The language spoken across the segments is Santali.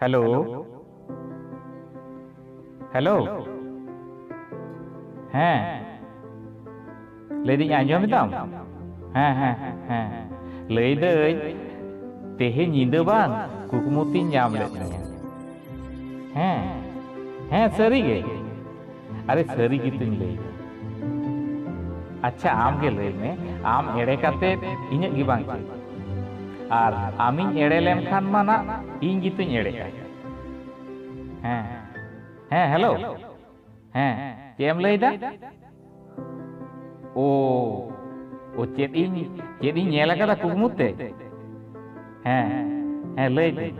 ᱦᱮᱞᱳ ᱦᱮᱞᱳ ᱦᱮᱸ ᱞᱟᱹᱭᱫᱟᱹᱧ ᱟᱸᱡᱚᱢ ᱮᱫᱟᱢ ᱦᱮᱸ ᱦᱮᱸ ᱦᱮᱸ ᱞᱟᱹᱭᱫᱟᱹᱧ ᱛᱮᱦᱮᱧ ᱧᱤᱫᱟᱹ ᱵᱟᱝ ᱠᱩᱠᱢᱩ ᱛᱤᱧ ᱧᱟᱢ ᱞᱮᱫ ᱢᱮᱭᱟ ᱦᱮᱸ ᱦᱮᱸ ᱥᱟᱹᱨᱤᱜᱮ ᱟᱨᱮ ᱥᱟᱹᱨᱤ ᱜᱮᱛᱤᱧ ᱞᱟᱹᱭ ᱟᱪᱪᱷᱟ ᱟᱢ ᱜᱮ ᱞᱟᱹᱭ ᱢᱮ ᱟᱢ ᱮᱲᱮ ᱠᱟᱛᱮ ᱤᱧᱟᱹᱜ ᱜᱮ ᱵᱟᱝ ᱪᱮᱫ ᱟᱨ ᱟᱢᱤᱧ ᱮᱲᱮ ᱞᱮᱱᱠᱷᱟᱱ ᱢᱟ ᱱᱟᱜ ᱤᱧ ᱜᱮᱛᱚᱧ ᱮᱲᱮᱜᱼᱟ ᱦᱮᱸ ᱦᱮᱸ ᱦᱮᱞᱳ ᱦᱮᱸ ᱪᱮᱫ ᱮᱢ ᱞᱟᱹᱭᱫᱟ ᱳ ᱳ ᱪᱮᱫ ᱤᱧ ᱪᱮᱫ ᱤᱧ ᱧᱮᱞ ᱟᱠᱟᱫᱟ ᱠᱩᱠᱢᱩ ᱛᱮ ᱦᱮᱸ ᱦᱮᱸ ᱞᱟᱹᱭ ᱫᱟᱹᱧ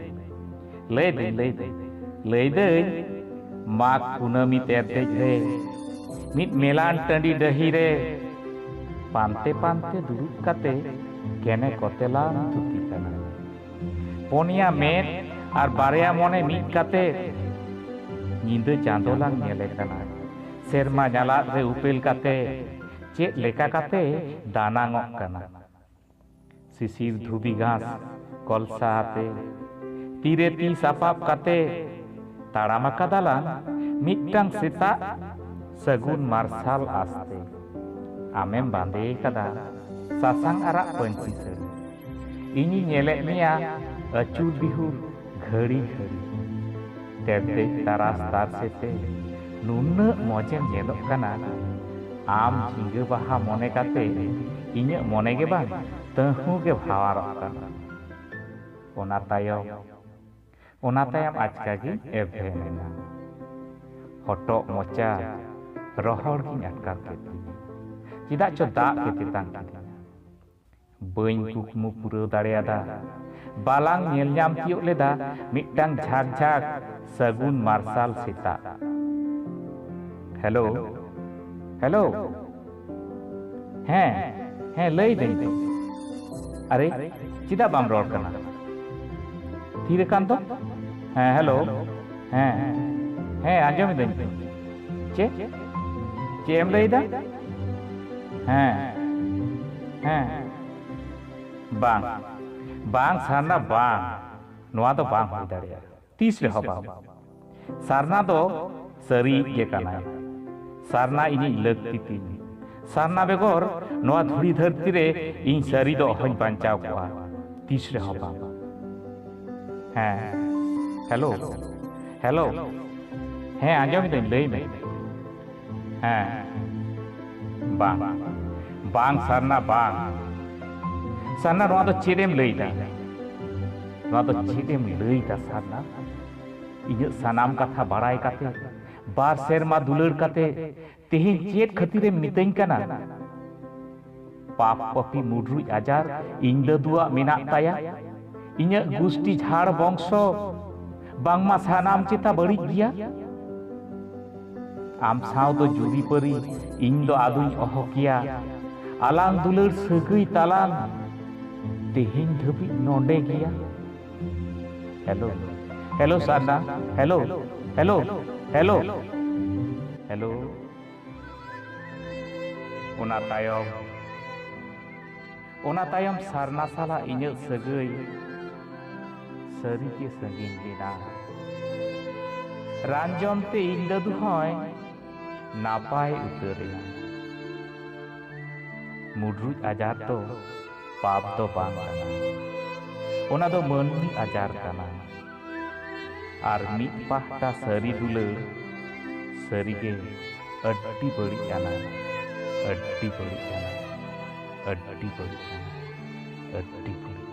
ᱞᱟᱹᱭ ᱫᱟᱹᱧ ᱞᱟᱹᱭ ᱫᱟᱹᱧ ᱞᱟᱹᱭ ᱫᱟᱹᱧ ᱢᱟᱜᱽ ᱠᱩᱱᱟᱹᱢᱤ ᱛᱮ ᱫᱮᱡ ᱨᱮ ᱢᱤᱫ ᱢᱮᱞᱟᱱ ᱴᱟᱺᱰᱤ ᱰᱟᱹᱦᱤ ᱨᱮ ᱯᱟᱱᱛᱮ ᱯᱟᱱᱛᱮ ᱫᱩᱲᱩᱵ ᱠᱟᱛᱮ ᱠᱮᱱᱮ ᱠᱚᱛᱮᱞᱟᱢ ᱛᱷᱩᱛᱤ ᱠᱟᱱᱟ ᱯᱚᱱᱭᱟ ᱢᱮᱫ ᱟᱨ ᱵᱟᱨᱭᱟ ᱢᱚᱱᱮ ᱢᱤᱫ ᱠᱟᱛᱮ ᱧᱤᱫᱟᱹ ᱪᱟᱸᱫᱚ ᱞᱟᱝ ᱧᱮᱞᱮ ᱠᱟᱱᱟ ᱥᱮᱨᱢᱟ ᱧᱟᱞᱟᱫ ᱨᱮ ᱩᱯᱮᱞ ᱠᱟᱛᱮ ᱪᱮᱫ ᱞᱮᱠᱟ ᱠᱟᱛᱮ ᱫᱟᱱᱟᱝᱚᱜ ᱠᱟᱱᱟ ᱥᱤᱥᱤᱨ ᱫᱷᱩᱵᱤ ᱜᱷᱟᱥ ᱠᱚᱞᱥᱟ ᱟᱛᱮ ᱛᱤᱨᱮ ᱛᱤ ᱥᱟᱯᱟᱵ ᱠᱟᱛᱮ ᱛᱟᱲᱟᱢ ᱟᱠᱟᱫᱟᱞᱟᱝ ᱢᱤᱫᱴᱟᱝ ᱥᱮᱛᱟᱜ ᱥᱟᱹᱜᱩᱱ ᱢᱟᱨᱥᱟᱞ ᱟᱥᱛᱮ ᱟᱢᱮᱢ ᱵᱟᱸᱫᱮ ᱟᱠᱟᱫᱟ ᱥᱟᱥᱟᱝ ᱟᱨᱟᱜ ᱯᱟᱹᱧᱪᱤ ᱥᱟᱹᱲᱤ ᱤᱧᱤᱧ ᱧᱮᱞᱮᱫ ᱢᱮᱭᱟ ᱟᱹᱪᱩᱨ ᱵᱤᱦᱩᱨ ᱜᱷᱟᱹᱲᱤ ᱜᱷᱟᱹᱲᱤ ᱛᱮᱨᱫᱮᱡ ᱛᱟᱨᱟᱥ ᱛᱟᱨᱥᱮ ᱛᱮ ᱱᱩᱱᱟᱹᱜ ᱢᱚᱡᱮᱢ ᱧᱮᱞᱚᱜ ᱠᱟᱱᱟ ᱟᱢ ᱡᱷᱤᱸᱜᱟᱹ ᱵᱟᱦᱟ ᱢᱚᱱᱮ ᱠᱟᱛᱮ ᱤᱧᱟᱹᱜ ᱢᱚᱱᱮ ᱜᱮ ᱵᱟᱝ ᱛᱟᱹᱦᱩ ᱜᱮ ᱵᱷᱟᱣᱟᱨᱚᱜ ᱠᱟᱱᱟ ᱚᱱᱟ ᱛᱟᱭᱚᱢ ᱚᱱᱟ ᱛᱟᱭᱚᱢ ᱟᱪᱠᱟ ᱜᱮ ᱮᱵᱷᱮᱱ ᱮᱱᱟ ᱦᱚᱴᱚᱜ ᱢᱚᱪᱟ ᱨᱚᱦᱚᱲ ᱜᱤᱧ ᱟᱴᱠᱟᱨ ᱠᱮᱫ ᱛᱤᱧᱟ ᱪᱮᱫᱟᱜ ᱪᱚ ᱫᱟᱜ ᱜᱮ ᱛᱮᱛᱟᱝ ᱠᱮᱫᱤᱧᱟ ᱵᱟᱹᱧ ᱠᱩᱠᱢᱩ ᱯᱩᱨᱟᱹᱣ ᱫᱟᱲᱮ ᱟᱫᱟ᱾ ᱵᱟᱞᱟᱝ ᱧᱮᱞ ᱧᱟᱢ ᱛᱤᱭᱳᱜ ᱞᱮᱫᱟ ᱢᱤᱫᱴᱟᱝ ᱡᱷᱟᱠ ᱡᱷᱟᱠ ᱥᱟᱹᱜᱩᱱ ᱢᱟᱨᱥᱟᱞ ᱥᱮᱛᱟᱜ᱾ ᱦᱮᱞᱳ ᱦᱮᱞᱳ ᱦᱮᱸ ᱦᱮᱸ ᱞᱟᱹᱭ ᱫᱟᱹᱧ ᱛᱚ᱾ ᱟᱨᱮ ᱪᱮᱫᱟᱜ ᱵᱟᱢ ᱨᱚᱲ ᱠᱟᱱᱟ? ᱛᱷᱤᱨ ᱟᱠᱟᱱ ᱫᱚ? ᱦᱮᱸ ᱦᱮᱞᱳ ᱦᱮᱸ ᱦᱮᱸ ᱟᱸᱡᱚᱢ ᱮᱫᱟᱹᱧ ᱛᱚ᱾ ᱪᱮᱫ ᱪᱮᱫ ᱮᱢ ᱞᱟᱹᱭ ᱮᱫᱟ? ᱦᱮᱸ ᱦᱮᱸ ᱵᱟᱝ ᱵᱟᱝ ᱥᱟᱨᱱᱟ ᱵᱟᱝ ᱱᱚᱣᱟ ᱫᱚ ᱵᱟᱝ ᱦᱩᱭ ᱫᱟᱲᱮᱭᱟᱜᱼᱟ ᱛᱤᱥ ᱨᱮᱦᱚᱸ ᱵᱟᱝ ᱥᱟᱨᱱᱟ ᱫᱚ ᱥᱟᱹᱨᱤᱭᱤᱡ ᱜᱮ ᱠᱟᱱᱟᱭ ᱥᱟᱨᱱᱟ ᱤᱧᱤᱡ ᱞᱟᱹᱠᱛᱤ ᱛᱤᱧ ᱥᱟᱨᱱᱟ ᱵᱮᱜᱚᱨ ᱱᱚᱣᱟ ᱫᱷᱩᱲᱤ ᱫᱷᱟᱹᱨᱛᱤ ᱨᱮ ᱤᱧ ᱥᱟᱹᱨᱤ ᱫᱚ ᱚᱦᱚᱧ ᱵᱟᱧᱪᱟᱣ ᱠᱚᱜᱼᱟ ᱛᱤᱥ ᱨᱮᱦᱚᱸ ᱵᱟᱝ ᱦᱮᱸ ᱦᱮᱞᱳ ᱦᱮᱞᱳ ᱦᱮᱸ ᱟᱸᱡᱚᱢ ᱫᱟᱹᱧ ᱞᱟᱹᱭ ᱢᱮ ᱦᱮᱸ ᱵᱟᱝ ᱵᱟᱝ ᱥᱟᱨᱱᱟ ᱵᱟᱝ ᱥᱟᱨᱱᱟ ᱱᱚᱣᱟ ᱫᱚ ᱪᱮᱫ ᱮᱢ ᱞᱟᱹᱭᱫᱟ ᱱᱚᱣᱟ ᱫᱚ ᱪᱮᱫ ᱮᱢ ᱞᱟᱹᱭᱫᱟ ᱥᱟᱨᱱᱟ ᱤᱧᱟᱹᱜ ᱥᱟᱱᱟᱢ ᱠᱟᱛᱷᱟ ᱵᱟᱲᱟᱭ ᱠᱟᱛᱮ ᱵᱟᱨ ᱥᱮᱨᱢᱟ ᱫᱩᱞᱟᱹᱲ ᱠᱟᱛᱮ ᱛᱮᱦᱮᱧ ᱪᱮᱫ ᱠᱷᱟᱹᱛᱤᱨᱮᱢ ᱢᱤᱛᱟᱹᱧ ᱠᱟᱱᱟ ᱯᱟᱯ ᱯᱟᱯᱤ ᱢᱩᱰᱨᱩᱡ ᱟᱡᱟᱨ ᱤᱧ ᱫᱟᱫᱩᱣᱟᱜ ᱢᱮᱱᱟᱜ ᱛᱟᱭᱟ ᱤᱧᱟᱹᱜ ᱜᱩᱥᱴᱤ ᱡᱷᱟᱲ ᱵᱚᱝᱥᱚ ᱵᱟᱝᱢᱟ ᱥᱟᱱᱟᱢ ᱪᱮᱛᱟ ᱵᱟᱹᱲᱤᱡ ᱜᱮᱭᱟ ᱟᱢ ᱥᱟᱶ ᱫᱚ ᱡᱩᱨᱤ ᱯᱟᱹᱨᱤ ᱤᱧ ᱫᱚ ᱟᱫᱚᱧ ᱚᱦᱚ ᱠᱮᱭᱟ ᱟᱞᱟᱝ ᱫᱩᱞᱟᱹᱲ ᱥᱟᱹᱜᱟᱹᱭ ᱛᱟᱞᱟᱝ ᱛᱮᱦᱮᱧ ᱫᱷᱟᱹᱵᱤᱡ ᱱᱚᱰᱮ ᱜᱮᱭᱟ ᱦᱮᱞᱳ ᱦᱮᱞᱳ ᱥᱟᱨᱱᱟ ᱦᱮᱞᱳ ᱦᱮᱞᱳ ᱦᱮᱞᱳ ᱦᱮᱞᱳ ᱚᱱᱟ ᱛᱟᱭᱚᱢ ᱚᱱᱟ ᱛᱟᱭᱚᱢ ᱥᱟᱨᱱᱟ ᱥᱟᱞᱟᱜ ᱤᱧᱟᱹᱜ ᱥᱟᱹᱜᱟᱹᱭ ᱥᱟᱹᱨᱤᱜᱮ ᱥᱟᱺᱜᱤᱧ ᱞᱮᱱᱟ ᱨᱟᱱ ᱡᱚᱢ ᱛᱮ ᱤᱧ ᱫᱟᱫᱩ ᱦᱚᱸᱭ ᱱᱟᱯᱟᱭ ᱩᱛᱟᱹᱨᱮᱱᱟ ᱢᱩᱰᱨᱩᱡ ᱟᱡᱟᱨ ᱫᱚ ᱯᱟᱯ ᱫᱚ ᱵᱟᱝ ᱠᱟᱱᱟ ᱚᱱᱟ ᱫᱚ ᱢᱟᱹᱱᱢᱤ ᱟᱡᱟᱨ ᱠᱟᱱᱟ ᱟᱨ ᱢᱤᱫ ᱯᱟᱦᱴᱟ ᱥᱟᱹᱨᱤ ᱫᱩᱞᱟᱹᱲ ᱥᱟᱹᱨᱤᱜᱮ ᱟᱹᱰᱤ ᱵᱟᱹᱲᱤᱡ ᱟᱱᱟ ᱟᱹᱰᱤ ᱵᱟᱹᱲᱤᱡ ᱟᱱᱟ ᱟᱹᱰᱤ ᱵᱟᱹᱲᱤᱡ ᱟᱱᱟ ᱟᱹᱰᱤ ᱵᱟᱹᱲᱤᱡ